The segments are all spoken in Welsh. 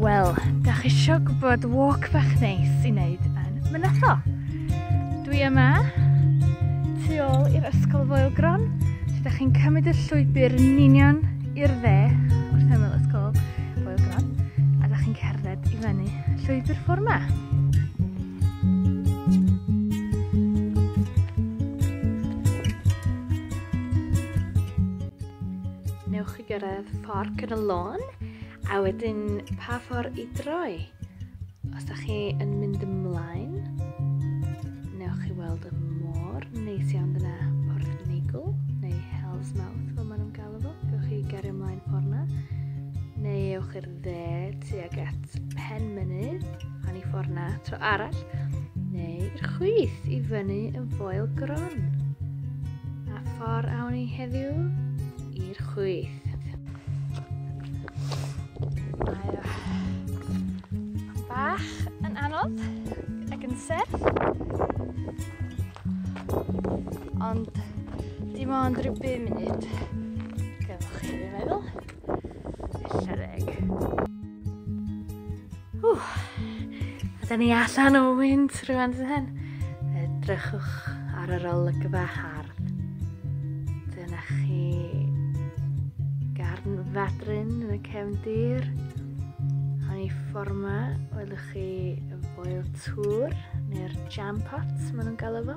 Wel, da chi isio gwybod walk bach neis i wneud yn Mynatho? Dwi yma, tu ôl i'r Ysgol Foelgron, lle da chi'n cymryd y llwybr yn union i'r dde wrth ymyl Ysgol Foelgron, a da chi'n cerdded i fyny llwybr ffordd 'ma. Newch chi gyrraedd fforc yn y lôn a wedyn pa ffordd i droi. Os da chi yn mynd ymlaen, newch chi weld y môr neis iawn dyna Porth Neigl neu Hell's Mouth fel maen nhw'n galw fo. Gewch chi gario ymlaen ffordd na, neu ewch i'r Dde tuag at Penmynydd, pan i ffordd na tro arall, neu i'r chwith i fyny yn foel gron. A ffordd awn i heddiw i'r chwith. Mae bach yn anodd ac yn serth. Ond dim ond rhyw 5 munud. Gymwch chi, fi'n meddwl. Siareg. Ww. A da ni allan o wynt rhywun sy'n hyn. Edrychwch ar yr olygfa hardd. Dyna chi garn fadrin yn y cefndir. A ni fforma, welwch chi yn boel tŵr neu'r jam pot maen nhw'n galw fo.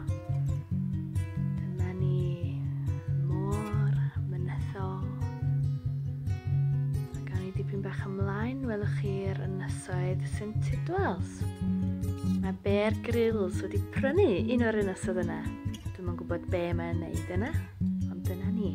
Dyma ni môr, mynyddol. Mae gan i dipyn bach ymlaen, welwch chi'r ynysoedd sy'n Tidwells. Mae Bear Grylls wedi prynu un o'r ynysoedd yna. Dwi'n yn gwybod be mae'n neud yna, ond dyna ni.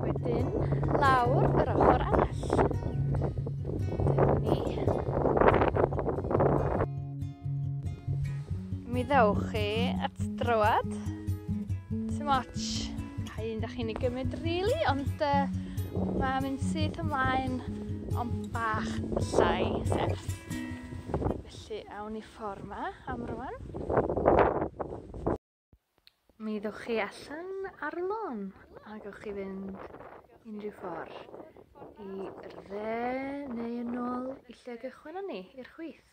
Wedyn, lawr yr ochor arall. Dyma ni. Mi ddewch chi at drywad. Too much. Pa un da chi'n ei gymryd really, ond uh, mae'n mynd syth ymlaen ond bach llai serth. Felly, awn ni ffor 'ma am rŵan. Mi ddowch chi allan ar y lôn a gewch chi fynd unrhyw ffor i'r dde neu yn ôl i lle gychwyn ni, i'r chwith.